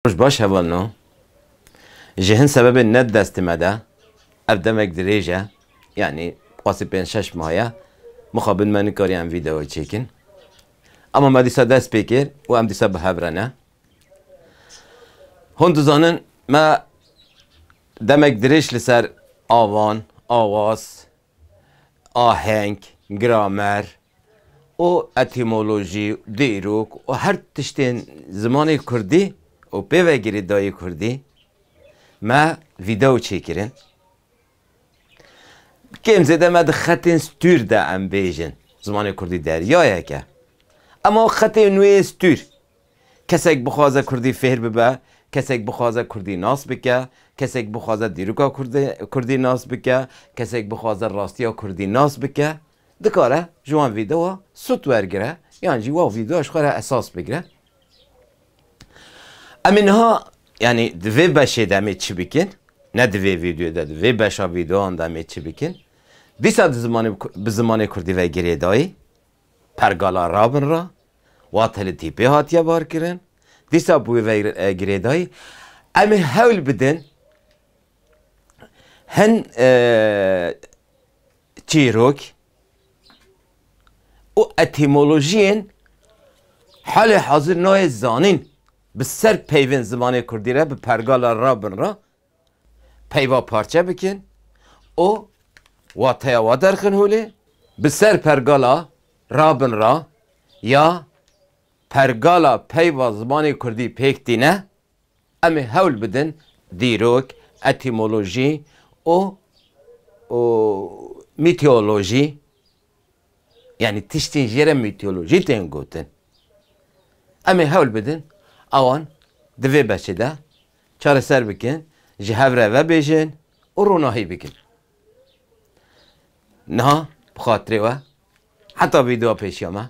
Roj baş hevalno. Ji hin sebebên ne di destê me de, ev demek dirêj e, yanî qasî pênc şeş mah ye, mixabin me nikariye em vîdeoyê çêkin. Ama me dîsa dest pê kir û em dîsa bi hev re ne. Hûn dizanin me demek dirêj li ser avan, awas, aheng, gramer û etîmolojî, dîrok û her tiştên zimanê kurdî û pêvegirê dayê kurdî me vîdeo çêkirin. Kêm zêde me di xetên stûr de em bêjin zimanê kurdî deryayek e. Ema xetê nûê stûr. Kesek bixwaze kurdî fêr bibe, kesek bixwaze kurdî nas bike, kesek bixwaze dîroka kurdî nas bike, kesek bixwaze rastiya kurdî nas bike, dikare ji wan vîdeoa sut wergire yan jî wa vîdeoa ji xwe re esas bigire. Em ê niha yanî di vê beşê de em ê çi bikin, ne di vê vîdeoyê de, di vê beşa vîdeoan de em ê çi bikin, dîsa di zimanê bi zimanê kurdî ve girêdayî, Pergala Rabin re wate li tîpê hatiye barkirin, dîsa bi wê ve girêdayî em ê hewl bidin hin çîrok û etîmolojiyên halê hazir nayê zanîn bi ser peyvên zimanê kurdî re bi pergala Rabin re peyva parçe bikin û wateya wan derxin holê. Bi ser pergala Rabin ra ya pergala peyva zimanê kurdî pêk tîne, em ê hewl bidin dîrok, etîmolojî û û mîteolojî yanî tiştên jê re mîteolojî tên gotin, em ê hewl bidin ewan di vê beşê de Çareser bikin, ji hev re vebêjin û ronahî bikin. Niha bi xatirê we heta vîdeoya pêşiya me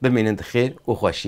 bimînin di xêr û xweşiyê de.